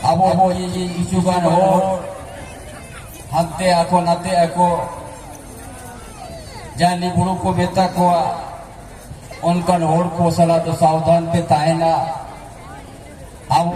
ᱟᱵᱚ ᱟᱵᱚ ᱠᱤᱪᱷᱩ ᱜᱟᱱ ᱦᱚᱲ ᱦᱟᱱᱛᱮ ᱟᱠᱚ ᱱᱟᱛᱮ ᱟᱠᱚ ᱡᱟᱦᱟᱸᱭ ᱵᱩᱲᱩ ᱠᱚ ᱢᱮᱛᱟ ᱠᱚᱣᱟ ᱚᱱᱠᱟᱱ ᱦᱚᱲ ᱠᱚ ᱥᱟᱞᱟᱜ ᱫᱚ ᱥᱟᱵᱫᱷᱟᱱ ᱯᱮ ᱛᱟᱦᱮᱱᱟ ᱟᱵᱚ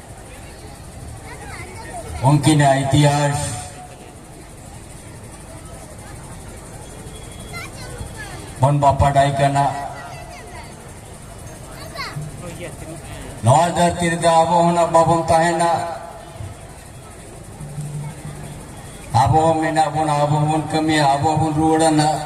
ᱩᱱᱠᱤᱱ ᱤᱛᱤᱦᱟᱥ ᱵᱚᱱ ᱵᱟᱯᱟᱰᱟᱭ ᱠᱟᱱᱟ ᱱᱚᱣᱟ ᱫᱷᱟᱹᱨᱛᱤ ᱨᱮᱫᱚ ᱟᱵᱚ ᱦᱚᱸ ᱵᱟᱵᱚᱱ ᱛᱟᱦᱮᱱᱟ ᱟᱵᱚ ᱦᱚᱸ ᱢᱮᱱᱟᱜ ᱵᱚᱱᱟ ᱟᱵᱚ ᱦᱚᱸᱵᱚᱱ ᱠᱟᱹᱢᱤᱭᱟ ᱟᱵᱚ ᱦᱚᱸᱵᱚᱱ ᱨᱩᱣᱟᱹᱲᱟ ᱱᱟᱜ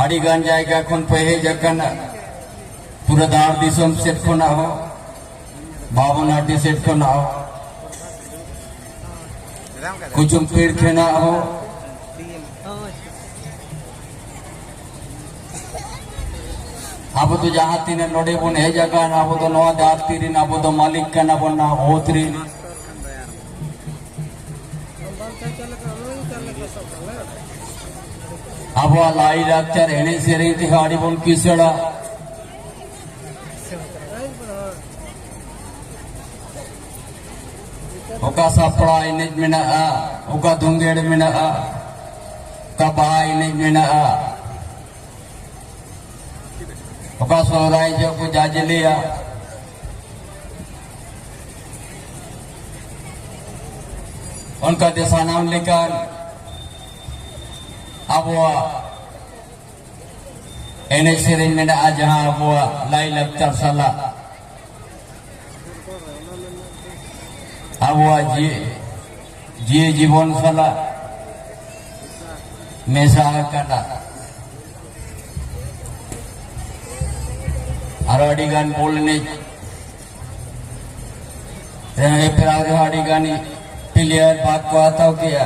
ᱟᱹᱰᱤᱜᱟᱱ ᱡᱟᱭᱜᱟ ᱠᱷᱚᱱ ᱯᱮ ᱦᱮᱡ ᱟᱠᱟᱱᱟ ᱯᱩᱨᱟᱹ ᱫᱷᱟᱲ ᱫᱤᱥᱚᱢ ᱥᱮᱫ ᱠᱷᱚᱱᱟᱜ ᱦᱚᱸ ᱵᱟᱵᱚᱱᱟᱴᱤ ᱥᱮᱫ ᱠᱷᱚᱱᱟᱜ ᱦᱚᱸ ᱠᱩᱪᱩᱢᱯᱤᱲ ᱠᱷᱚᱱᱟᱜ ᱦᱚᱸ ᱟᱵᱚ ᱫᱚ ᱡᱟᱦᱟᱸ ᱛᱤᱱᱟᱹᱜ ᱱᱚᱰᱮ ᱵᱚᱱ ᱦᱮᱡ ᱟᱠᱟᱱ ᱟᱵᱚ ᱫᱚ ᱱᱚᱣᱟ ᱫᱷᱟᱹᱨᱛᱤ ᱨᱮᱱ ᱟᱵᱚ ᱫᱚ ᱢᱟᱹᱞᱤᱠ ᱠᱟᱱᱟ ᱵᱚᱱ ᱱᱟ ᱚᱛ ᱨᱮᱱ ᱟᱵᱚᱣᱟᱜ ᱞᱟᱭ ᱞᱟᱠᱪᱟᱨ ᱮᱱᱮᱡ ᱥᱮᱨᱮᱧ ᱛᱮᱦᱚᱸ ᱟᱹᱰᱤ ᱵᱚᱱ ᱠᱤᱥᱟᱹᱲᱟ ᱚᱠᱟ ᱥᱟᱯᱲᱟᱣ ᱮᱱᱮᱡ ᱢᱮᱱᱟᱜᱼᱟ ᱚᱠᱟ ᱫᱩᱝᱜᱮᱲ ᱢᱮᱱᱟᱜᱼᱟ ᱚᱠᱟ ᱵᱟᱦᱟ ᱮᱱᱮᱡ ᱢᱮᱱᱟᱜᱼᱟ ᱚᱠᱟ ᱥᱚᱦᱨᱟᱭ ᱡᱚᱜ ᱠᱚ ᱡᱟᱡᱽᱞᱮᱭᱟ ᱚᱱᱠᱟᱛᱮ ᱥᱟᱱᱟᱢ ᱞᱮᱠᱟᱱ ᱟᱵᱚᱣᱟᱜ ᱮᱱᱮᱡ ᱥᱮᱨᱮᱧ ᱢᱮᱱᱟᱜᱼᱟ ᱡᱟᱦᱟᱸ ᱟᱵᱚᱣᱟᱜ ᱞᱟᱭᱞᱟᱠᱪᱟᱨ ᱥᱟᱞᱟᱜ ᱟᱵᱚᱣᱟᱜ ᱡᱤᱭᱟᱹ ᱡᱤᱵᱚᱱ ᱥᱟᱞᱟᱜ ᱢᱮᱥᱟ ᱟᱠᱟᱱᱟ ᱟᱨ ᱟᱹᱰᱤ ᱜᱟᱱ ᱵᱚᱞ ᱮᱱᱮᱡ ᱨᱮᱦᱚᱸ ᱦᱮᱯᱨᱟᱣ ᱨᱮᱦᱚᱸ ᱟᱹᱰᱤ ᱜᱟᱱ ᱯᱞᱮᱭᱟᱨ ᱵᱷᱟᱜᱽ ᱠᱚ ᱦᱟᱛᱟᱣ ᱠᱮᱜᱼᱟ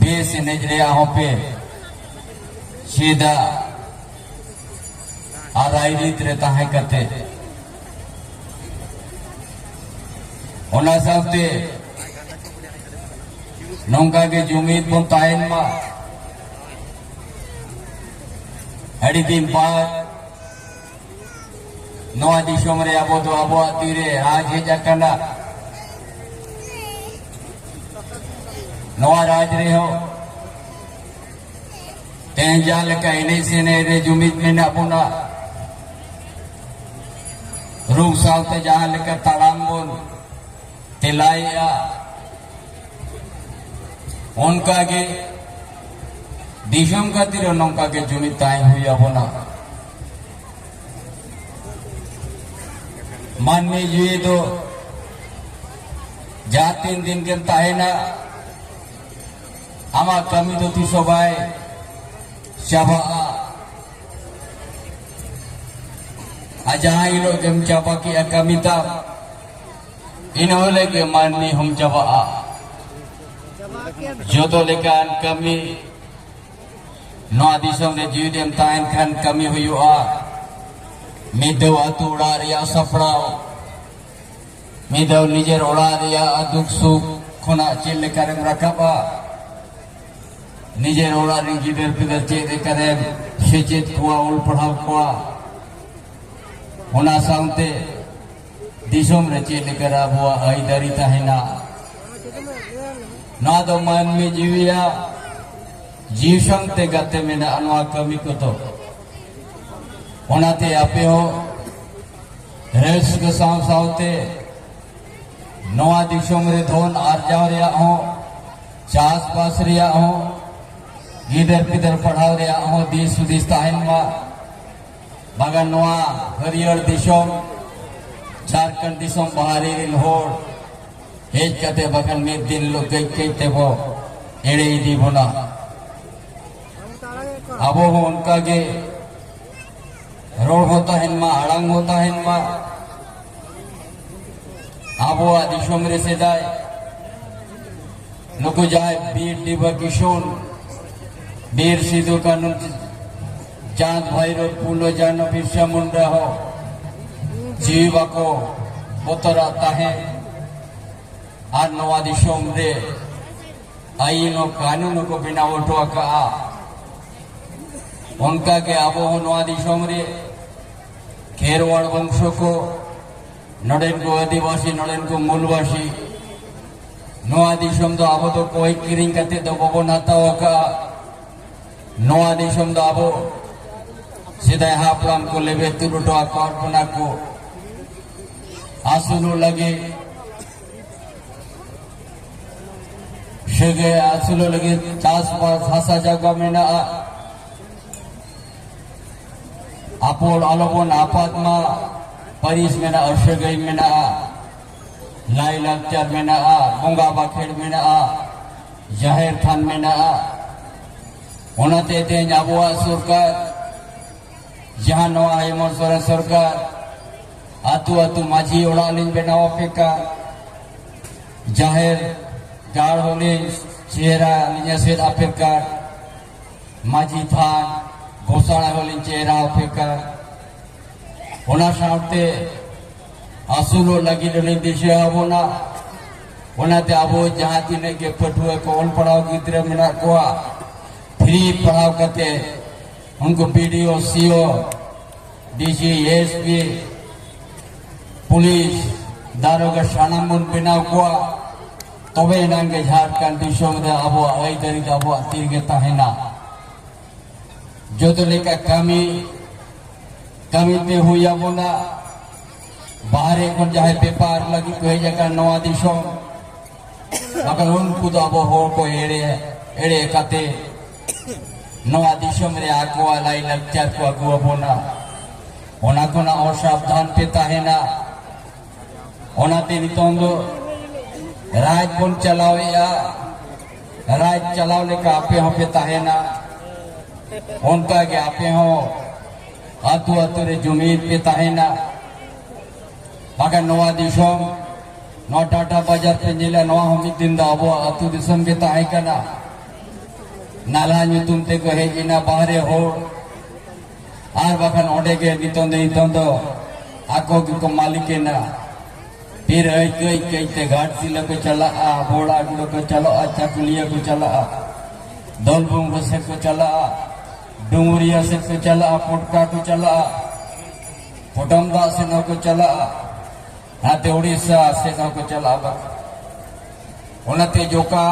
ᱵᱮᱥ ᱮᱱᱮᱡ ᱨᱮᱭᱟᱜ ᱦᱚᱸ ᱯᱮ ᱪᱮᱫᱟ ᱟᱨ ᱨᱟᱭᱨᱤᱛ ᱨᱮ ᱛᱟᱦᱮᱸ ᱠᱟᱛᱮ ᱚᱱᱟ ᱥᱟᱶᱛᱮ ᱱᱚᱝᱠᱟ ᱜᱮ ᱡᱩᱢᱤᱫ ᱵᱚᱱ ᱛᱟᱦᱮᱱ ᱢᱟ ᱟᱹᱰᱤ ᱫᱤᱱ ᱵᱟᱫ ᱱᱚᱣᱟ ᱫᱤᱥᱚᱢ ᱨᱮ ᱟᱵᱚ ᱫᱚ ᱟᱵᱚᱣᱟᱜ ᱛᱤᱨᱮ ᱨᱟᱡᱽ ᱦᱮᱡ ᱟᱠᱟᱱᱟ ᱱᱚᱣᱟ ᱨᱟᱡᱽ ᱨᱮᱦᱚᱸ ᱛᱮᱦᱮᱧ ᱡᱟᱦᱟᱸ ᱞᱮᱠᱟ ᱮᱱᱮᱡ ᱥᱮᱱᱮᱡ ᱨᱮ ᱡᱩᱢᱤᱫ ᱢᱮᱱᱟᱜ ᱵᱚᱱᱟ ᱨᱩ ᱥᱟᱶᱛᱮ ᱡᱟᱦᱟᱸ ᱞᱮᱠᱟ ᱛᱟᱲᱟᱢ ᱵᱚᱱ ᱛᱮᱞᱟᱭᱮᱜᱼᱟ ᱚᱱᱠᱟᱜᱮ ᱫᱤᱥᱚᱢ ᱠᱷᱟᱹᱛᱤᱨ ᱱᱚᱝᱠᱟᱜᱮ ᱡᱩᱢᱤᱫ ᱛᱟᱦᱮᱸ ᱦᱩᱭ ᱟᱵᱚᱱᱟ ᱢᱟᱹᱱᱢᱤ ᱡᱤᱣᱤ ᱫᱚ ᱡᱟᱦᱟᱸ ᱛᱤᱱ ᱫᱤᱱ ᱜᱮᱢ ᱛᱟᱦᱮᱱᱟ ᱟᱢᱟᱜ ᱠᱟᱹᱢᱤ ᱫᱚ ᱛᱤᱥ ᱦᱚᱸ ᱵᱟᱭ ᱪᱟᱵᱟᱜᱼᱟ ᱟᱨ ᱡᱟᱦᱟᱸ ᱦᱤᱞᱳᱜ ᱜᱮᱢ ᱪᱟᱵᱟ ᱠᱮᱜᱼᱟ ᱠᱟᱹᱢᱤ ᱛᱟᱢ ᱤᱱᱟᱹ ᱦᱤᱞᱳᱜ ᱜᱮ ᱢᱟᱹᱱᱢᱤ ᱦᱚᱸᱢ ᱪᱟᱵᱟᱜᱼᱟ ᱡᱚᱛᱚ ᱞᱮᱠᱟᱱ ᱠᱟᱹᱢᱤ ᱱᱚᱣᱟ ᱫᱤᱥᱚᱢ ᱨᱮ ᱡᱤᱣᱤ ᱰᱮᱢ ᱛᱟᱦᱮᱱ ᱠᱷᱟᱱ ᱠᱟᱹᱢᱤ ᱦᱩᱭᱩᱜᱼᱟ ᱢᱤᱫ ᱫᱷᱟᱣ ᱟᱹᱛᱩ ᱚᱲᱟᱜ ᱨᱮᱭᱟᱜ ᱥᱟᱯᱲᱟᱣ ᱢᱤᱫ ᱫᱷᱟᱣ ᱱᱤᱡᱮᱨ ᱚᱲᱟᱜ ᱨᱮᱭᱟᱜ ᱫᱩᱠ ᱥᱩᱠ ᱠᱷᱚᱱᱟᱜ ᱪᱮᱫ ᱞᱮᱠᱟᱨᱮᱢ ᱨᱟᱠᱟᱵᱟ ᱱᱤᱡᱮᱨ ᱚᱲᱟᱜ ᱨᱮᱱ ᱜᱤᱫᱟᱹᱨ ᱯᱤᱫᱟᱹᱨ ᱪᱮᱫ ᱞᱮᱠᱟᱨᱮᱢ ᱥᱮᱪᱮᱫ ᱠᱚᱣᱟ ᱚᱞ ᱯᱟᱲᱦᱟᱣ ᱠᱚᱣᱟ ᱚᱱᱟ ᱥᱟᱶᱛᱮ ᱫᱤᱥᱚᱢ ᱨᱮ ᱪᱮᱫ ᱞᱮᱠᱟ ᱟᱵᱚᱣᱟᱜ ᱟᱹᱭᱫᱟᱹᱨᱤ ᱛᱟᱦᱮᱱᱟ ᱱᱚᱣᱟ ᱫᱚ ᱢᱟᱹᱱᱢᱤ ᱡᱤᱣᱤᱭᱟᱜ ᱡᱤᱣᱤ ᱥᱟᱶᱛᱮ ᱜᱟᱛᱮ ᱢᱮᱱᱟᱜᱼᱟ ᱱᱚᱣᱟ ᱠᱟᱹᱢᱤ ᱠᱚᱫᱚ ᱚᱱᱟᱛᱮ ᱟᱯᱮ ᱦᱚᱸ ᱨᱟᱹᱥᱠᱟᱹ ᱥᱟᱶ ᱥᱟᱶᱛᱮ ᱱᱚᱣᱟ ᱫᱤᱥᱚᱢ ᱨᱮ ᱫᱷᱚᱱ ᱟᱨᱡᱟᱣ ᱨᱮᱭᱟᱜ ᱦᱚᱸ ᱪᱟᱥᱵᱟᱥ ᱨᱮᱭᱟᱜ ᱦᱚᱸ ᱜᱤᱫᱟᱹᱨ ᱯᱤᱫᱟᱹᱨ ᱯᱟᱲᱦᱟᱣ ᱨᱮᱭᱟᱜ ᱦᱚᱸ ᱫᱤᱥ ᱦᱩᱫᱤᱥ ᱛᱟᱦᱮᱱ ᱢᱟ ᱵᱟᱜᱟᱱ ᱱᱚᱣᱟ ᱦᱟᱹᱨᱭᱟᱹᱲ ᱫᱤᱥᱚᱢ ᱡᱷᱟᱨᱠᱷᱚᱸᱰ ᱫᱤᱥᱚᱢ ᱵᱟᱦᱨᱮ ᱨᱮᱱ ᱦᱚᱲ ᱦᱮᱡ ᱠᱟᱛᱮ ᱵᱟᱠᱷᱟᱱ ᱢᱤᱫ ᱫᱤᱱ ᱦᱤᱞᱳᱜ ᱠᱟᱹᱡ ᱠᱟᱹᱡ ᱛᱮᱵᱚ ᱮᱲᱮ ᱤᱫᱤ ᱵᱚᱱᱟ ᱟᱵᱚ ᱦᱚᱸ ᱚᱱᱠᱟᱜᱮ ᱨᱚᱲ ᱦᱚᱸ ᱛᱟᱦᱮᱱ ᱢᱟ ᱟᱲᱟᱝ ᱦᱚᱸ ᱛᱟᱦᱮᱱ ᱢᱟ ᱟᱵᱚᱣᱟᱜ ᱫᱤᱥᱚᱢ ᱨᱮ ᱥᱮᱫᱟᱭ ᱱᱩᱠᱩ ᱡᱟᱦᱟᱸᱭ ᱵᱤᱨ ᱰᱤᱵᱟ ᱠᱤᱥᱩᱱ ᱵᱤᱨ ᱥᱤᱫᱩ ᱠᱟᱹᱱᱩ ᱪᱟᱸᱫᱽ ᱵᱷᱟᱭᱨᱚ ᱯᱩᱞᱚ ᱡᱟᱱᱚ ᱵᱤᱨᱥᱟ ᱢᱩᱱᱰᱟ ᱦᱚᱸ ᱡᱤᱣᱤ ᱵᱟᱠᱚ ᱵᱚᱛᱚᱨᱟᱜ ᱛᱟᱦᱮᱸ ᱟᱨ ᱱᱚᱣᱟ ᱫᱤᱥᱚᱢ ᱨᱮ ᱟᱹᱭᱤᱱ ᱦᱚᱸ ᱠᱟᱹᱱᱩᱱ ᱦᱚᱸᱠᱚ ᱵᱮᱱᱟᱣ ᱦᱚᱴᱚ ᱟᱠᱟᱜᱼᱟ ᱚᱱᱠᱟᱜᱮ ᱟᱵᱚ ᱦᱚᱸ ᱱᱚᱣᱟ ᱫᱤᱥᱚᱢ ᱨᱮ ᱠᱷᱮᱨᱣᱟᱲ ᱵᱚᱝᱥᱚ ᱠᱚ ᱱᱚᱰᱮᱱ ᱠᱚ ᱟᱹᱫᱤᱵᱟᱹᱥᱤ ᱱᱚᱰᱮᱱ ᱠᱚ ᱢᱩᱞᱵᱟᱹᱥᱤ ᱱᱚᱣᱟ ᱫᱤᱥᱚᱢ ᱫᱚ ᱟᱵᱚ ᱫᱚ ᱠᱚᱭ ᱠᱤᱨᱤᱧ ᱠᱟᱛᱮ ᱫᱚ ᱵᱟᱵᱚᱱ ᱦᱟᱛᱟᱣ ᱟᱠᱟᱫᱼᱟ ᱱᱚᱣᱟ ᱫᱤᱥᱚᱢ ᱫᱚ ᱟᱵᱚ ᱥᱮᱫᱟᱭ ᱦᱟᱯᱲᱟᱢ ᱠᱚ ᱞᱮᱵᱮ ᱛᱩᱞ ᱦᱚᱴᱚ ᱟᱠᱟᱫ ᱵᱚᱱᱟ ᱠᱚ ᱟᱹᱥᱩᱞᱚᱜ ᱞᱟᱹᱜᱤᱫ ᱥᱟᱹᱜᱟᱹᱭ ᱟᱹᱥᱩᱞᱚᱜ ᱞᱟᱹᱜᱤᱫ ᱪᱟᱥᱵᱟᱥ ᱦᱟᱥᱟ ᱡᱟᱭᱜᱟ ᱢᱮᱱᱟᱜᱼᱟ ᱟᱯᱚᱞ ᱟᱞᱚᱵᱚᱱ ᱟᱯᱟᱛ ᱢᱟ ᱯᱟᱹᱨᱤᱥ ᱢᱮᱱᱟᱜᱼᱟ ᱥᱟᱹᱜᱟᱹᱭ ᱢᱮᱱᱟᱜᱼᱟ ᱞᱟᱭᱼᱞᱟᱠᱪᱟᱨ ᱢᱮᱱᱟᱜᱼᱟ ᱵᱚᱸᱜᱟ ᱵᱟᱠᱷᱮᱲ ᱢᱮᱱᱟᱜᱼᱟ ᱡᱟᱦᱮᱨ ᱛᱷᱟᱱ ᱢᱮᱱᱟᱜᱼᱟ ᱚᱱᱟᱛᱮ ᱛᱮᱦᱮᱧ ᱟᱵᱚᱣᱟᱜ ᱥᱚᱨᱠᱟᱨ ᱡᱟᱦᱟᱸ ᱱᱚᱣᱟ ᱦᱮᱢᱚᱱᱛ ᱥᱚᱨᱮᱱ ᱥᱚᱨᱠᱟᱨ ᱟᱛᱳ ᱟᱛᱳ ᱢᱟᱹᱡᱷᱤ ᱚᱲᱟᱜ ᱞᱤᱧ ᱵᱮᱱᱟᱣ ᱟᱯᱮ ᱠᱟᱱ ᱡᱟᱦᱮᱨ ᱜᱟᱲ ᱦᱚᱸᱞᱤᱧ ᱪᱮᱦᱨᱟ ᱞᱤᱧ ᱮᱥᱮᱫ ᱟᱯᱮ ᱠᱟᱱ ᱢᱟᱹᱡᱷᱤ ᱛᱷᱟᱱ ᱜᱚᱥᱟᱬᱟ ᱦᱚᱸᱞᱤᱧ ᱪᱮᱦᱨᱟ ᱟᱯᱮ ᱠᱟᱱ ᱚᱱᱟ ᱥᱟᱶᱛᱮ ᱟᱹᱥᱩᱞᱚᱜ ᱞᱟᱹᱜᱤᱫ ᱩᱱᱤ ᱫᱤᱥᱟᱹ ᱟᱵᱚᱱᱟ ᱚᱱᱟᱛᱮ ᱟᱵᱚ ᱡᱟᱦᱟᱸ ᱛᱤᱱᱟᱹᱜ ᱜᱮ ᱯᱟᱹᱴᱷᱩᱣᱟᱹ ᱠᱚ ᱚᱞ ᱯᱟᱲᱦᱟᱣ ᱜᱤᱫᱽᱨᱟᱹ ᱢᱮᱱᱟᱜ ᱠᱚᱣᱟ ᱯᱷᱨᱤ ᱯᱟᱲᱦᱟᱣ ᱠᱟᱛᱮ ᱩᱱᱠᱩ BDO CO DC SP police ᱫᱟᱨᱚᱜᱟ ᱥᱟᱱᱟᱢ ᱵᱚᱱ ᱵᱮᱱᱟᱣ ᱠᱚᱣᱟ ᱛᱚᱵᱮ ᱮᱱᱟᱝ ᱜᱮ ᱡᱷᱟᱲᱠᱷᱚᱸᱰ ᱫᱤᱥᱚᱢ ᱨᱮ ᱟᱵᱚᱣᱟᱜ ᱟᱹᱭᱫᱟᱹᱨᱤ ᱫᱚ ᱟᱵᱚᱣᱟᱜ ᱛᱤᱨᱮᱜᱮ ᱛᱟᱦᱮᱱᱟ ᱡᱚᱛᱚ ᱞᱮᱠᱟ ᱠᱟᱹᱢᱤ ᱠᱟᱹᱢᱤ ᱯᱮ ᱦᱩᱭ ᱟᱵᱚᱱᱟ ᱵᱟᱦᱨᱮ ᱠᱷᱚᱱ ᱡᱟᱦᱟᱸᱭ ᱵᱮᱯᱟᱨ ᱞᱟᱹᱜᱤᱫ ᱠᱚ ᱦᱮᱡ ᱟᱠᱟᱱ ᱱᱚᱣᱟ ᱫᱤᱥᱚᱢ ᱟᱵᱟᱨ ᱩᱱᱠᱩ ᱫᱚ ᱟᱵᱚ ᱦᱚᱲ ᱠᱚ ᱮᱲᱮ ᱮᱲᱮ ᱠᱟᱛᱮ ᱱᱚᱣᱟ ᱫᱤᱥᱚᱢ ᱨᱮ ᱟᱠᱚᱣᱟᱜ ᱞᱟᱭ ᱞᱟᱠᱪᱟᱨ ᱠᱚ ᱟᱹᱜᱩ ᱟᱵᱚᱱᱟ ᱚᱱᱟ ᱠᱷᱚᱱᱟᱜ ᱚᱥᱟᱵᱫᱷᱟᱱ ᱯᱮ ᱛᱟᱦᱮᱱᱟ ᱚᱱᱟᱛᱮ ᱱᱤᱛᱚᱝ ᱫᱚ ᱨᱟᱡᱽ ᱵᱚᱱ ᱪᱟᱞᱟᱣᱮᱫᱼᱟ ᱨᱟᱡᱽ ᱪᱟᱞᱟᱣ ᱞᱮᱠᱟ ᱟᱯᱮ ᱦᱚᱸᱯᱮ ᱛᱟᱦᱮᱱᱟ ᱚᱱᱠᱟᱜᱮ ᱟᱯᱮ ᱦᱚᱸ ᱟᱹᱛᱩ ᱟᱹᱛᱩ ᱨᱮ ᱡᱩᱢᱤᱫ ᱯᱮ ᱛᱟᱦᱮᱱᱟ ᱵᱟᱠᱷᱟᱱ ᱱᱚᱣᱟ ᱫᱤᱥᱚᱢ ᱱᱚᱣᱟ ᱴᱟᱴᱟ ᱵᱟᱡᱟᱨ ᱯᱮ ᱧᱮᱞᱟ ᱱᱚᱣᱟ ᱦᱚᱸ ᱢᱤᱫ ᱫᱤᱱ ᱫᱚ ᱟᱵᱚᱣᱟᱜ ᱟᱹᱛᱩ ᱫᱤᱥᱚᱢ ᱜᱮ ᱛᱟᱦᱮᱸ ᱠᱟᱱᱟ ᱱᱟᱞᱦᱟ ᱧᱩᱛᱩᱢ ᱛᱮᱠᱚ ᱦᱮᱡ ᱮᱱᱟ ᱵᱟᱦᱨᱮ ᱦᱚᱲ ᱟᱨ ᱵᱟᱠᱷᱟᱱ ᱚᱸᱰᱮ ᱜᱮ ᱱᱤᱛᱚᱝ ᱫᱚ ᱱᱤᱛᱚᱝ ᱫᱚ ᱟᱠᱚ ᱜᱮᱠᱚ ᱢᱟᱹᱞᱤᱠᱮᱱᱟ ᱯᱷᱤᱨ ᱟᱹᱭᱠᱟᱹᱭ ᱟᱹᱭᱠᱟᱹᱭ ᱛᱮ ᱜᱷᱟᱴᱥᱤᱞᱟᱹ ᱠᱚ ᱪᱟᱞᱟᱜᱼᱟ ᱵᱚᱲᱟ ᱜᱩᱲᱟᱹ ᱠᱚ ᱪᱟᱞᱟᱜᱼᱟ ᱪᱟᱠᱩᱞᱤᱭᱟᱹ ᱠᱚ ᱪᱟᱞᱟᱜᱼᱟ ᱫᱚᱞᱵᱩᱝᱜᱚ ᱥᱮᱫ ᱠᱚ ᱪᱟᱞᱟᱜᱼᱟ ᱰᱩᱝᱜᱩᱨᱤᱭᱟ ᱥᱮᱫ ᱠᱚ ᱪᱟᱞᱟᱜᱼᱟ ᱯᱚᱴᱠᱟ ᱠᱚ ᱪᱟᱞᱟᱜᱼᱟ ᱯᱚᱴᱚᱢ ᱫᱟᱜ ᱥᱮᱫ ᱦᱚᱸᱠᱚ ᱪᱟᱞᱟᱜᱼᱟ ᱱᱟᱛᱮ ᱩᱲᱤᱥᱥᱟ ᱥᱮᱫ ᱦᱚᱸᱠᱚ ᱪᱟᱞᱟᱜᱼᱟ ᱚᱱᱟᱛᱮ ᱡᱚᱠᱟ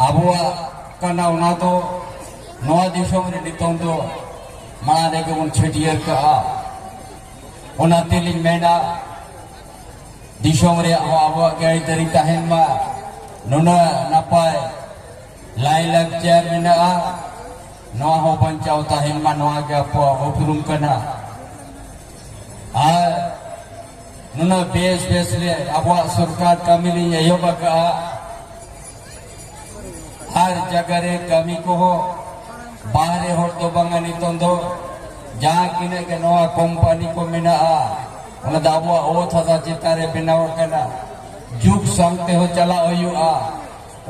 ᱟᱵᱚᱣᱟᱜ ᱠᱟᱱᱟ ᱚᱱᱟ ᱫᱚ ᱱᱚᱣᱟ ᱫᱤᱥᱚᱢ ᱨᱮ ᱱᱤᱛᱚᱝ ᱫᱚ ᱢᱟᱲᱟᱝ ᱨᱮᱜᱮ ᱵᱚᱱ ᱪᱷᱟᱹᱴᱭᱟᱹᱨ ᱠᱟᱜᱼᱟ ᱚᱱᱟ ᱛᱮᱞᱤᱧ ᱢᱮᱱᱟ ᱫᱤᱥᱚᱢ ᱨᱮᱭᱟᱜ ᱦᱚᱸ ᱟᱵᱚᱣᱟᱜ ᱜᱮ ᱟᱹᱨᱤᱪᱟᱹᱞᱤ ᱛᱟᱦᱮᱱ ᱢᱟ ᱱᱩᱱᱟᱹᱜ ᱱᱟᱯᱟᱭ ᱞᱟᱭᱼᱞᱟᱠᱪᱟᱨ ᱢᱮᱱᱟᱜᱼᱟ ᱱᱚᱣᱟ ᱦᱚᱸ ᱵᱟᱧᱪᱟᱣ ᱛᱟᱦᱮᱱ ᱢᱟ ᱱᱚᱣᱟ ᱜᱮ ᱟᱵᱚᱣᱟᱜ ᱩᱯᱨᱩᱢ ᱠᱟᱱᱟ ᱟᱨ ᱱᱩᱱᱟᱹᱜ ᱵᱮᱥ ᱵᱮᱥ ᱨᱮ ᱟᱵᱚᱣᱟᱜ ᱥᱚᱨᱠᱟᱨ ᱠᱟᱹᱢᱤ ᱞᱤᱧ ᱮᱦᱚᱵ ᱟᱠᱟᱫᱼᱟ ᱟᱨ ᱡᱟᱭᱜᱟ ᱨᱮ ᱠᱟᱹᱢᱤ ᱠᱚᱦᱚᱸ ᱵᱟᱦᱨᱮ ᱦᱚᱲ ᱫᱚ ᱵᱟᱝᱟ ᱱᱤᱛᱚᱝ ᱫᱚ ᱡᱟᱦᱟᱸ ᱛᱤᱱᱟᱹᱜ ᱜᱮ ᱱᱚᱣᱟ ᱠᱳᱢᱯᱟᱱᱤ ᱠᱚ ᱢᱮᱱᱟᱜᱼᱟ ᱚᱱᱟ ᱫᱚ ᱟᱵᱚᱣᱟᱜ ᱚᱛ ᱦᱟᱥᱟ ᱪᱮᱛᱟᱱ ᱨᱮ ᱵᱮᱱᱟᱣ ᱟᱠᱟᱱᱟ ᱡᱩᱜᱽ ᱥᱟᱶᱛᱮ ᱦᱚᱸ ᱪᱟᱞᱟᱜ ᱦᱩᱭᱩᱜᱼᱟ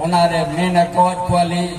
ᱚᱱᱟᱨᱮ ᱢᱮᱱ ᱟᱠᱟᱫ ᱠᱚᱣᱟᱞᱤᱧ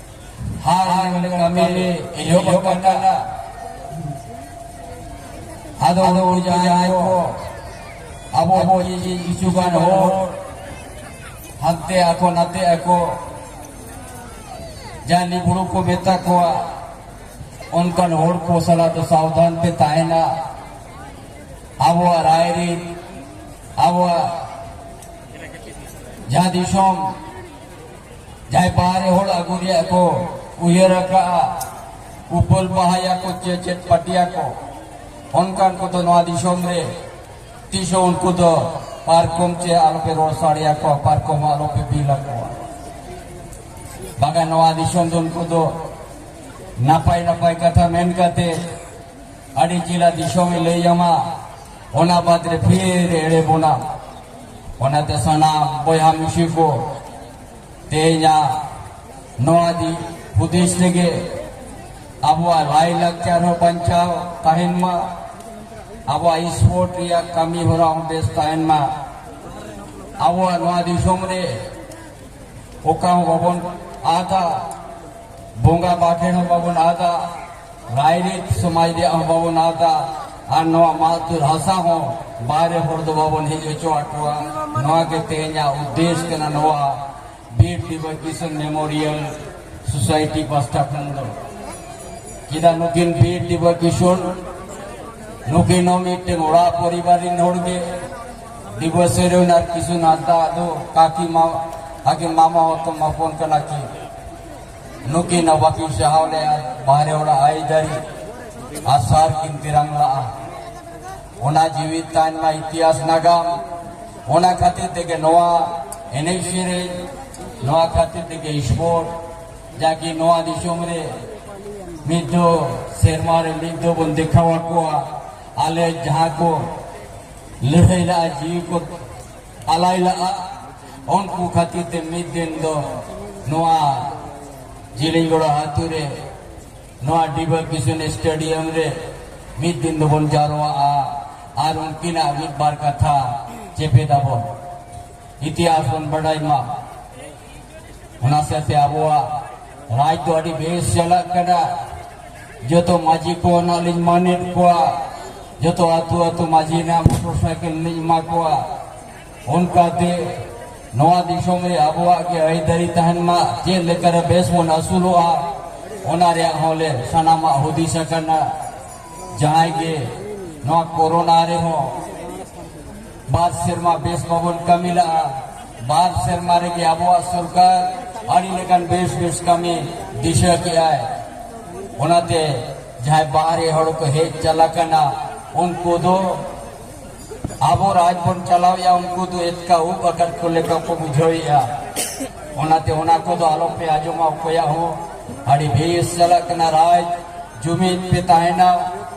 ᱦᱟᱱᱛᱮ ᱟᱠᱚ ᱱᱟᱛᱮ ᱟᱠᱚ ᱡᱟᱦᱟᱸᱭ ᱵᱩᱲᱩ ᱠᱚ ᱢᱮᱛᱟ ᱠᱚᱣᱟ ᱚᱱᱠᱟᱱ ᱦᱚᱲ ᱠᱚ ᱥᱟᱞᱟᱜ ᱫᱚ ᱥᱟᱵᱫᱷᱟᱱ ᱯᱮ ᱛᱟᱦᱮᱱᱟ ᱟᱵᱚᱣᱟᱜ ᱨᱟᱭ ᱨᱤᱱ ᱟᱵᱚᱣᱟᱜ ᱡᱟᱦᱟᱸ ᱫᱤᱥᱚᱢ ᱡᱟᱦᱟᱸᱭ ᱵᱟᱦᱨᱮ ᱦᱚᱲ ᱟᱹᱜᱩ ᱨᱮᱭᱟᱜ ᱠᱚ ᱩᱭᱦᱟᱹᱨ ᱟᱠᱟᱫᱼᱟ ᱩᱯᱟᱹᱞ ᱵᱟᱦᱟᱭᱟ ᱠᱚ ᱪᱮ ᱪᱮᱫ ᱯᱟᱹᱴᱤᱭᱟ ᱠᱚ ᱚᱱᱠᱟᱱ ᱠᱚᱫᱚ ᱱᱚᱣᱟ ᱫᱤᱥᱚᱢ ᱨᱮ ᱛᱤᱥ ᱦᱚᱸ ᱩᱱᱠᱩ ᱫᱚ ᱯᱟᱨᱠᱚᱢ ᱪᱮ ᱟᱞᱚᱯᱮ ᱨᱚᱲ ᱥᱟᱰᱮᱭᱟ ᱠᱚᱣᱟ ᱯᱟᱨᱠᱚᱢ ᱦᱚᱸ ᱟᱞᱚᱯᱮ ᱵᱤᱞ ᱟᱠᱚᱣᱟ ᱵᱟᱝᱟ ᱱᱚᱣᱟ ᱫᱤᱥᱚᱢ ᱫᱚ ᱩᱱᱠᱩ ᱫᱚ ᱱᱟᱯᱟᱭ ᱱᱟᱯᱟᱭ ᱠᱟᱛᱷᱟ ᱢᱮᱱ ᱠᱟᱛᱮ ᱟᱹᱰᱤ ᱪᱮᱦᱨᱟ ᱫᱤᱥᱚᱢᱮ ᱞᱟᱹᱭ ᱟᱢᱟ ᱚᱱᱟ ᱵᱟᱫᱽ ᱨᱮ ᱯᱷᱤᱨ ᱮᱲᱮ ᱵᱚᱱᱟ ᱚᱱᱟᱛᱮ ᱥᱟᱱᱟᱢ ᱵᱚᱭᱦᱟ ᱢᱤᱥᱤ ᱠᱚ ᱛᱮᱦᱮᱧᱟᱜ ᱱᱚᱣᱟ ᱫᱤ ᱦᱩᱫᱤᱥ ᱛᱮᱜᱮ ᱟᱵᱚᱣᱟᱜ ᱞᱟᱭᱼᱞᱟᱠᱪᱟᱨ ᱦᱚᱸ ᱵᱟᱧᱪᱟᱣ ᱛᱟᱦᱮᱱ ᱢᱟ ᱟᱵᱚᱣᱟᱜ ᱥᱯᱳᱨᱴ ᱨᱮᱭᱟᱜ ᱠᱟᱹᱢᱤ ᱦᱚᱨᱟ ᱦᱚᱸ ᱵᱮᱥ ᱛᱟᱦᱮᱱ ᱢᱟ ᱟᱵᱚᱣᱟᱜ ᱱᱚᱣᱟ ᱫᱤᱥᱚᱢ ᱨᱮ ᱚᱠᱟ ᱦᱚᱸ ᱵᱟᱵᱚᱱ ᱟᱫᱟ ᱵᱚᱸᱜᱟ ᱵᱟᱠᱷᱮ ᱦᱚᱸ ᱵᱟᱵᱚᱱ ᱟᱫᱟ ᱨᱟᱭᱨᱤᱛ ᱥᱚᱢᱟᱡᱽ ᱨᱮᱭᱟᱜ ᱦᱚᱸ ᱵᱟᱵᱚᱱ ᱟᱫᱟ ᱟᱨ ᱱᱚᱣᱟ ᱢᱟᱛᱩᱨ ᱦᱟᱥᱟ ᱦᱚᱸ ᱵᱟᱦᱨᱮ ᱦᱚᱲ ᱫᱚ ᱵᱟᱵᱚᱱ ᱦᱮᱡ ᱦᱚᱪᱚ ᱟᱠᱚᱣᱟ ᱱᱚᱣᱟ ᱜᱮ ᱛᱮᱦᱮᱧᱟᱜ ᱩᱫᱽᱫᱮᱥ ᱠᱟᱱᱟ ᱱᱚᱣᱟ ᱵᱤᱨ ᱫᱤᱵᱚᱥ ᱠᱤᱥᱚᱱ ᱢᱮᱢᱳᱨᱤᱭᱟᱞ ᱥᱳᱥᱟᱭᱴᱤ ᱯᱟᱥᱴᱟ ᱠᱷᱚᱱ ᱫᱚ ᱪᱮᱫᱟᱜ ᱱᱩᱠᱤᱱ ᱵᱤᱨ ᱫᱤᱵᱚᱥ ᱠᱤᱥᱚᱱ ᱱᱩᱠᱤᱱ ᱦᱚᱸ ᱢᱤᱫᱴᱮᱱ ᱚᱲᱟᱜ ᱯᱚᱨᱤᱵᱟᱨ ᱨᱤᱱ ᱦᱚᱲ ᱜᱮ ᱤᱵᱚ ᱥᱮᱨᱮᱣ ᱱᱟᱨ ᱠᱤᱥᱩ ᱱᱟᱫᱟ ᱫᱚ ᱠᱟᱠᱤ ᱢᱟ ᱟᱜᱮ ᱢᱟᱢᱟ ᱦᱚᱛᱚ ᱢᱟᱯᱚᱱ ᱠᱟᱱᱟ ᱠᱤ ᱱᱩᱠᱤ ᱱᱟ ᱵᱟᱠᱤ ᱥᱟᱦᱟᱣ ᱞᱮ ᱵᱟᱦᱨᱮ ᱚᱲᱟ ᱟᱭ ᱫᱟᱨᱤ ᱟᱥᱟᱨ ᱠᱤᱱ ᱛᱤᱨᱟᱝ ᱞᱟᱜᱼᱟ ᱚᱱᱟ ᱡᱤᱣᱤ ᱛᱟᱭᱱ ᱢᱟ ᱤᱛᱤᱦᱟᱥ ᱱᱟᱜᱟᱢ ᱚᱱᱟ ᱠᱷᱟᱹᱛᱤᱨ ᱛᱮᱜᱮ ᱱᱚᱣᱟ ᱮᱱᱮᱡ ᱥᱮᱨᱮᱧ ᱱᱚᱣᱟ ᱠᱷᱟᱹᱛᱤᱨ ᱛᱮᱜᱮ ᱥᱯᱳᱨᱴ ᱡᱟᱠᱤ ᱱᱚᱣᱟ ᱫᱤᱥᱚᱢ ᱨᱮ ᱢᱤᱫ ᱫᱚ ᱥᱮᱨᱢᱟ ᱨᱮ ᱢᱤᱫ ᱫᱚ ᱵᱚᱱ ᱫᱮᱠᱷᱟᱣ ᱟᱠᱚᱣᱟ ᱟᱞᱮ ᱡᱟᱦᱟᱸ ᱠᱚ ᱞᱟᱹᱲᱦᱟᱹᱭ ᱞᱟᱜᱼᱟ ᱡᱤᱣᱤ ᱠᱚ ᱟᱞᱟᱭ ᱞᱟᱜᱼᱟ ᱩᱱᱠᱩ ᱠᱷᱟᱹᱛᱤᱨ ᱛᱮ ᱢᱤᱫ ᱫᱤᱱ ᱫᱚ ᱱᱚᱣᱟ ᱡᱤᱞᱤᱧᱜᱚᱲᱟ ᱟᱛᱳ ᱨᱮ ᱱᱚᱣᱟ ᱰᱤᱵᱟ ᱠᱤᱥᱩᱱ ᱥᱴᱮᱰᱤᱭᱟᱢ ᱨᱮ ᱢᱤᱫ ᱫᱤᱱ ᱫᱚᱵᱚᱱ ᱡᱟᱨᱣᱟᱜᱼᱟ ᱟᱨ ᱩᱱᱠᱤᱱᱟᱜ ᱢᱤᱫ ᱵᱟᱨ ᱠᱟᱛᱷᱟ ᱪᱮᱯᱮᱫᱟᱵᱚᱱ ᱤᱛᱤᱦᱟᱥ ᱵᱚᱱ ᱵᱟᱰᱟᱭ ᱢᱟ ᱚᱱᱟ ᱥᱟᱶᱛᱮ ᱟᱵᱚᱣᱟᱜ ᱨᱟᱡᱽ ᱫᱚ ᱟᱹᱰᱤ ᱵᱮᱥ ᱪᱟᱞᱟᱜ ᱠᱟᱱᱟ ᱡᱚᱛᱚ ᱢᱟᱹᱡᱷᱤ ᱠᱚ ᱱᱟᱜ ᱞᱤᱧ ᱢᱟᱱᱮᱫ ᱠᱚᱣᱟ ᱡᱚᱛᱚ ᱟᱹᱛᱩ ᱟᱹᱛᱩ ᱢᱟᱹᱡᱷᱤ ᱱᱟᱜ ᱢᱚᱴᱚᱨ ᱥᱟᱭᱠᱮᱞ ᱞᱤᱧ ᱮᱢᱟ ᱠᱚᱣᱟ ᱚᱱᱠᱟᱛᱮ ᱱᱚᱣᱟ ᱫᱤᱥᱚᱢ ᱨᱮ ᱟᱵᱚᱣᱟᱜ ᱜᱮ ᱟᱹᱭᱫᱟᱹᱨᱤ ᱛᱟᱦᱮᱱ ᱢᱟ ᱪᱮᱫ ᱞᱮᱠᱟᱨᱮ ᱵᱮᱥ ᱵᱚᱱ ᱟᱹᱥᱩᱞᱚᱜᱼᱟ ᱚᱱᱟ ᱨᱮᱭᱟᱜ ᱦᱚᱸ ᱞᱮ ᱥᱟᱱᱟᱢᱟᱜ ᱦᱩᱫᱤᱥ ᱟᱠᱟᱱᱟ ᱡᱟᱦᱟᱸᱭ ᱜᱮ ᱱᱚᱣᱟ ᱠᱳᱨᱳᱱᱟ ᱨᱮᱦᱚᱸ ᱵᱟᱨ ᱥᱮᱨᱢᱟ ᱵᱮᱥ ᱵᱟᱵᱚᱱ ᱠᱟᱹᱢᱤ ᱞᱟᱜᱼᱟ ᱵᱟᱨ ᱥᱮᱨᱢᱟ ᱨᱮᱜᱮ ᱟᱵᱚᱣᱟᱜ ᱥᱚᱨᱠᱟᱨ ᱟᱹᱰᱤ ᱞᱮᱠᱟᱱ ᱵᱮᱥ ᱵᱮᱥ ᱠᱟᱹᱢᱤ ᱫᱤᱥᱟᱹ ᱠᱮᱜᱼᱟᱭ ᱚᱱᱟᱛᱮ ᱡᱟᱦᱟᱸᱭ ᱵᱟᱦᱨᱮ ᱦᱚᱲ ᱠᱚ ᱦᱮᱡ ᱪᱟᱞᱟᱜ ᱠᱟᱱᱟ ᱩᱱᱠᱩ ᱫᱚ ᱟᱵᱚ ᱨᱟᱡᱽ ᱵᱚᱱ ᱪᱟᱞᱟᱣᱮᱜᱼᱟ ᱩᱱᱠᱩ ᱫᱚ ᱮᱛᱠᱟ ᱩᱵ ᱟᱠᱟᱫ ᱠᱚ ᱞᱮᱠᱟ ᱠᱚ ᱵᱩᱡᱷᱟᱹᱣᱮᱜᱼᱟ ᱚᱱᱟᱛᱮ ᱚᱱᱟ ᱠᱚᱫᱚ ᱟᱞᱚᱯᱮ ᱟᱸᱡᱚᱢᱟ ᱚᱠᱚᱭᱟᱜ ᱦᱚᱸ ᱟᱹᱰᱤ ᱵᱮᱥ ᱪᱟᱞᱟᱜ ᱠᱟᱱᱟ ᱨᱟᱡᱽ ᱡᱩᱢᱤᱫ ᱯᱮ ᱛᱟᱦᱮᱱᱟ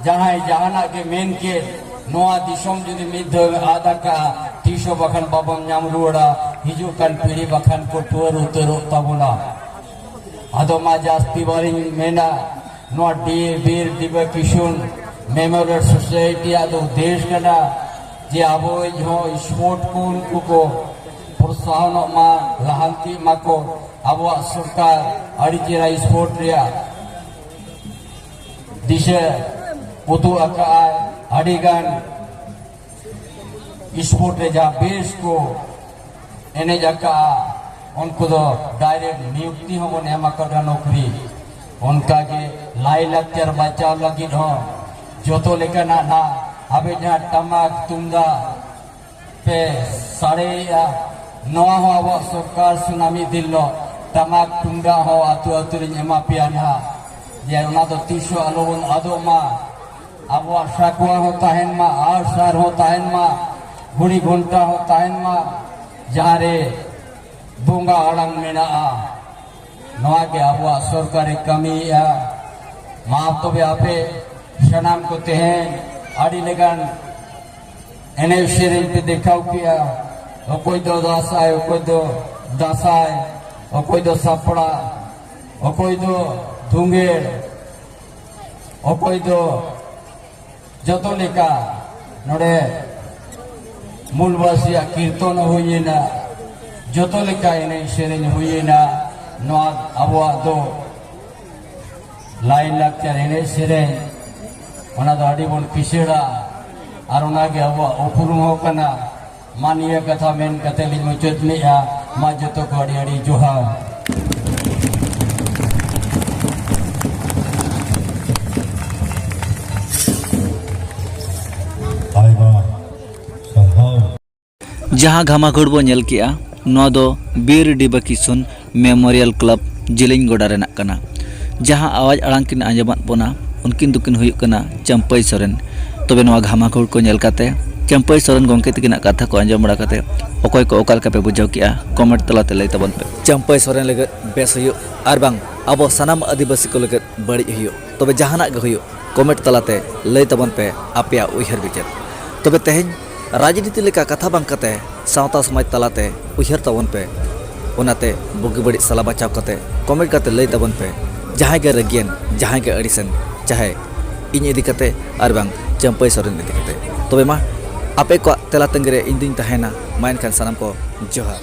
ᱡᱟᱦᱟᱸᱭ ᱡᱟᱦᱟᱱᱟᱜ ᱜᱮ ᱢᱮᱱ ᱠᱮᱫ ᱱᱚᱣᱟ ᱫᱤᱥᱚᱢ ᱡᱩᱫᱤ ᱢᱤᱫ ᱫᱷᱟᱣ ᱟᱫ ᱟᱠᱟᱜᱼᱟ ᱛᱤᱥ ᱦᱚᱸ ᱵᱟᱠᱷᱟᱱ ᱵᱟᱵᱚᱱ ᱧᱟᱢ ᱨᱩᱣᱟᱹᱲᱟ ᱦᱤᱡᱩᱜ ᱠᱟᱱ ᱯᱤᱲᱦᱤ ᱵᱟᱠᱷᱟᱱ ᱠᱚ ᱴᱩᱣᱟᱹᱨ ᱩᱛᱟᱹᱨᱚᱜ ᱛᱟᱵᱚᱱᱟ ᱟᱫᱚ ᱢᱟ ᱡᱟᱹᱥᱛᱤ ᱵᱟᱨᱤᱧ ᱢᱮᱱᱟ ᱱᱚᱣᱟ ᱰᱤ ᱵᱤᱨ ᱫᱤᱵᱟ ᱠᱤᱥᱩᱱ ᱢᱮᱢᱳᱨᱤᱭᱟᱞ ᱥᱳᱥᱟᱭᱴᱤ ᱟᱜ ᱫᱚ ᱩᱫᱽᱫᱮᱥ ᱠᱟᱱᱟ ᱡᱮ ᱟᱵᱚ ᱦᱚᱸ ᱥᱯᱳᱨᱴ ᱠᱚ ᱩᱱᱠᱩ ᱠᱚ ᱯᱨᱚᱛᱥᱟᱦᱚᱱᱚᱜ ᱢᱟ ᱞᱟᱦᱟᱱᱛᱤᱜ ᱢᱟᱠᱚ ᱟᱵᱚᱣᱟᱜ ᱥᱚᱨᱠᱟᱨ ᱟᱹᱰᱤ ᱪᱮᱦᱨᱟ ᱥᱯᱳᱨᱴ ᱨᱮᱭᱟᱜ ᱫᱤᱥᱟᱹ ᱩᱫᱩᱜ ᱟᱠᱟᱫᱼᱟᱭ ᱟᱹᱰᱤᱜᱟᱱ ᱥᱯᱳᱨᱴ ᱨᱮ ᱡᱟᱦᱟᱸ ᱵᱮᱥ ᱠᱚ ᱮᱱᱮᱡ ᱟᱠᱟᱫᱼᱟ ᱩᱱᱠᱩ ᱫᱚ ᱰᱟᱭᱨᱮᱠᱴ ᱱᱤᱭᱩᱠᱛᱤ ᱦᱚᱸᱵᱚᱱ ᱮᱢ ᱟᱠᱟᱫᱟ ᱱᱚᱠᱨᱤ ᱚᱱᱠᱟᱜᱮ ᱞᱟᱭᱼᱞᱟᱠᱪᱟᱨ ᱵᱟᱧᱪᱟᱣ ᱞᱟᱹᱜᱤᱫ ᱦᱚᱸ ᱡᱚᱛᱚ ᱞᱮᱠᱟᱱᱟᱜ ᱱᱟᱜ ᱟᱵᱮ ᱡᱟᱦᱟᱸ ᱴᱟᱢᱟᱠ ᱛᱩᱢᱫᱟᱜ ᱯᱮ ᱥᱟᱲᱮᱭᱮᱜᱼᱟ ᱱᱚᱣᱟ ᱦᱚᱸ ᱟᱵᱚᱣᱟᱜ ᱥᱚᱨᱠᱟᱨ ᱥᱩᱱᱟ ᱢᱤᱫ ᱫᱤᱱ ᱞᱚᱜ ᱴᱟᱢᱟᱠ ᱛᱩᱢᱫᱟᱜ ᱦᱚᱸ ᱟᱛᱳ ᱟᱛᱳ ᱨᱤᱧ ᱮᱢᱟ ᱯᱮᱭᱟ ᱱᱟᱦᱟᱜ ᱡᱮ ᱚᱱᱟ ᱫᱚ ᱛᱤᱥ ᱦᱚᱸ ᱟᱞᱚ ᱵᱚᱱ ᱟᱫᱚᱜ ᱢᱟ ᱟᱵᱚᱣᱟᱜ ᱥᱟᱠᱣᱟ ᱦᱚᱸ ᱛᱟᱦᱮᱱ ᱢᱟ ᱟᱨ ᱥᱟᱨ ᱦᱚᱸ ᱛᱟᱦᱮᱱ ᱢᱟ ᱜᱷᱩᱲᱤ ᱜᱷᱚᱱᱴᱟ ᱦᱚᱸ ᱛᱟᱦᱮᱱ ᱢᱟ ᱡᱟᱦᱟᱸ ᱨᱮ ᱵᱚᱸᱜᱟ ᱟᱲᱟᱝ ᱢᱮᱱᱟᱜᱼᱟ ᱱᱚᱣᱟ ᱜᱮ ᱟᱵᱚᱣᱟᱜ ᱥᱚᱨᱠᱟᱨᱮ ᱠᱟᱹᱢᱤᱭᱮᱜᱼᱟ ᱢᱟ ᱛᱚᱵᱮ ᱟᱯᱮ ᱥᱟᱱᱟᱢ ᱠᱚ ᱛᱮᱦᱮᱧ ᱟᱹᱰᱤ ᱞᱮᱠᱟᱱ ᱮᱱᱮᱡ ᱥᱮᱨᱮᱧ ᱯᱮ ᱫᱮᱠᱷᱟᱣ ᱠᱮᱜᱼᱟ ᱚᱠᱚᱭ ᱫᱚ ᱫᱟᱸᱥᱟᱭ ᱚᱠᱚᱭ ᱫᱚ ᱫᱟᱸᱥᱟᱭ ᱚᱠᱚᱭ ᱫᱚ ᱥᱟᱯᱲᱟ ᱚᱠᱚᱭ ᱫᱚ ᱫᱷᱩᱝᱜᱮᱲ ᱚᱠᱚᱭ ᱫᱚ ᱡᱚᱛᱚ ᱞᱮᱠᱟ ᱱᱚᱰᱮ ᱢᱩᱞᱵᱟᱥᱤᱭᱟᱜ ᱠᱤᱨᱛᱚᱱ ᱦᱩᱭᱮᱱᱟ ᱡᱚᱛᱚ ᱞᱮᱠᱟ ᱮᱱᱮᱡ ᱥᱮᱨᱮᱧ ᱦᱩᱭᱮᱱᱟ ᱱᱚᱣᱟ ᱟᱵᱚᱣᱟᱜ ᱫᱚ ᱞᱟᱭ ᱞᱟᱠᱪᱟᱨ ᱮᱱᱮᱡ ᱥᱮᱨᱮᱧ ᱚᱱᱟ ᱫᱚ ᱟᱹᱰᱤ ᱵᱚᱱ ᱠᱤᱥᱟᱹᱲᱟ ᱟᱨ ᱚᱱᱟᱜᱮ ᱟᱵᱚᱣᱟᱜ ᱩᱯᱨᱩᱢ ᱦᱚᱸ ᱠᱟᱱᱟ ᱢᱟ ᱱᱤᱭᱟᱹ ᱠᱟᱛᱷᱟ ᱢᱮᱱ ᱠᱟᱛᱮ ᱞᱤᱧ ᱢᱩᱪᱟᱹᱫ ᱞᱮᱜᱼᱟ ᱢᱟ ᱡᱚᱛᱚ ᱠᱚ ᱟᱹᱰᱤ ᱟᱹᱰᱤ ᱡᱚᱦᱟᱨ ᱡᱟᱦᱟᱸ ᱜᱷᱟᱢᱟᱠᱷᱳᱲ ᱵᱚ ᱧᱮᱞ ᱠᱮᱜᱼᱟ ᱱᱚᱣᱟ ᱫᱚ ᱵᱤᱨ ᱰᱤᱵᱟ ᱠᱤᱥᱩᱱ ᱢᱮᱢᱳᱨᱤᱭᱟᱞ ᱠᱞᱟᱵᱽ ᱡᱤᱞᱤᱧ ᱜᱚᱰᱟ ᱨᱮᱱᱟᱜ ᱠᱟᱱᱟ ᱡᱟᱦᱟᱸ ᱟᱣᱟᱡᱽ ᱟᱲᱟᱝ ᱠᱤᱱ ᱟᱸᱡᱚᱢᱟᱫ ᱵᱚᱱᱟ ᱩᱱᱠᱤᱱ ᱫᱚᱠᱤᱱ ᱦᱩᱭᱩᱜ ᱠᱟᱱᱟ ᱪᱟᱢᱯᱟᱹᱭ ᱥᱚᱨᱮᱱ ᱛᱚᱵᱮ ᱱᱚᱣᱟ ᱜᱷᱟᱢᱟᱠᱷᱳᱲ ᱠᱚ ᱧᱮᱞ ᱠᱟᱛᱮ ᱪᱟᱢᱯᱟᱹᱭ ᱥᱚᱨᱮᱱ ᱜᱚᱢᱠᱮ ᱛᱟᱹᱠᱤᱱᱟᱜ ᱠᱟᱛᱷᱟ ᱠᱚ ᱟᱸᱡᱚᱢ ᱵᱟᱲᱟ ᱠᱟᱛᱮ ᱚᱠᱚᱭ ᱠᱚ ᱚᱠᱟ ᱞᱮᱠᱟ ᱯᱮ ᱵᱩᱡᱷᱟᱹᱣ ᱠᱮᱜᱼᱟ ᱠᱚᱢᱮᱱᱴ ᱛᱟᱞᱟᱛᱮ ᱞᱟᱹᱭ ᱛᱟᱵᱚᱱ ᱯᱮ ᱪᱟᱢᱯᱟᱹᱭ ᱥᱚᱨᱮᱱ ᱞᱟᱹᱜᱤᱫ ᱵᱮᱥ ᱦᱩᱭᱩᱜ ᱟᱨ ᱵᱟᱝ ᱟᱵᱚ ᱥᱟᱱᱟᱢ ᱟᱹᱫᱤᱵᱟᱹᱥᱤ ᱠᱚ ᱞᱟᱹᱜᱤᱫ ᱵᱟᱹᱲᱤᱡ ᱦᱩᱭᱩᱜ ᱛᱚᱵᱮ ᱡᱟᱦᱟᱱᱟᱜ ᱜᱮ ᱦᱩᱭᱩᱜ ᱠᱚᱢᱮᱱᱴ ᱛᱟᱞᱟᱛᱮ ᱞᱟᱹᱭ ᱛᱟᱵᱚᱱ ᱯᱮ ᱟᱯᱮᱭᱟᱜ ᱩᱭᱦᱟᱹᱨ ᱵᱤᱪᱟᱹᱨ ᱛᱚᱵᱮ ᱛᱮᱦᱮᱧ ᱨᱟᱡᱽᱱᱤᱛᱤ ᱞᱮᱠᱟ ᱠᱟᱛᱷᱟ ᱵᱟᱝ ᱠᱟᱛᱮ ᱥᱟᱶᱛᱟ ᱥᱚᱢᱟᱡᱽ ᱛᱟᱞᱟᱛᱮ ᱩᱭᱦᱟᱹᱨ ᱛᱟᱵᱚᱱ ᱯᱮ ᱚᱱᱟᱛᱮ ᱵᱩᱜᱤ ᱵᱟᱹᱲᱤᱡ ᱥᱟᱞᱟ ᱵᱟᱪᱷᱟᱣ ᱠᱟᱛᱮ ᱠᱚᱢᱮᱱᱴ ᱠᱟᱛᱮ ᱞᱟᱹᱭ ᱛᱟᱵᱚᱱ ᱯᱮ ᱡᱟᱦᱟᱸᱭ ᱜᱮ ᱨᱟᱹᱜᱤᱭᱮᱱ ᱡᱟᱦᱟᱸᱭ ᱜᱮ ᱟᱹᱲᱤᱥᱮᱱ ᱪᱟᱦᱮ ᱤᱧ ᱤᱫᱤ ᱠᱟᱛᱮ ᱟᱨ ᱵᱟᱝ ᱪᱟᱹᱢᱯᱟᱹᱭ ᱥᱚᱨᱮᱱ ᱤᱫᱤ ᱠᱟᱛᱮ ᱛᱚᱵᱮ ᱢᱟ ᱟᱯᱮ ᱠᱚᱣᱟᱜ ᱛᱮᱞᱟ ᱛᱟᱺᱜᱤ ᱨᱮ ᱤᱧ ᱫᱩᱧ ᱛᱟᱦᱮᱱᱟ ᱢᱟ ᱮᱱᱠᱷᱟᱱ ᱥᱟᱱᱟᱢ ᱠᱚ ᱡᱚᱦᱟᱨ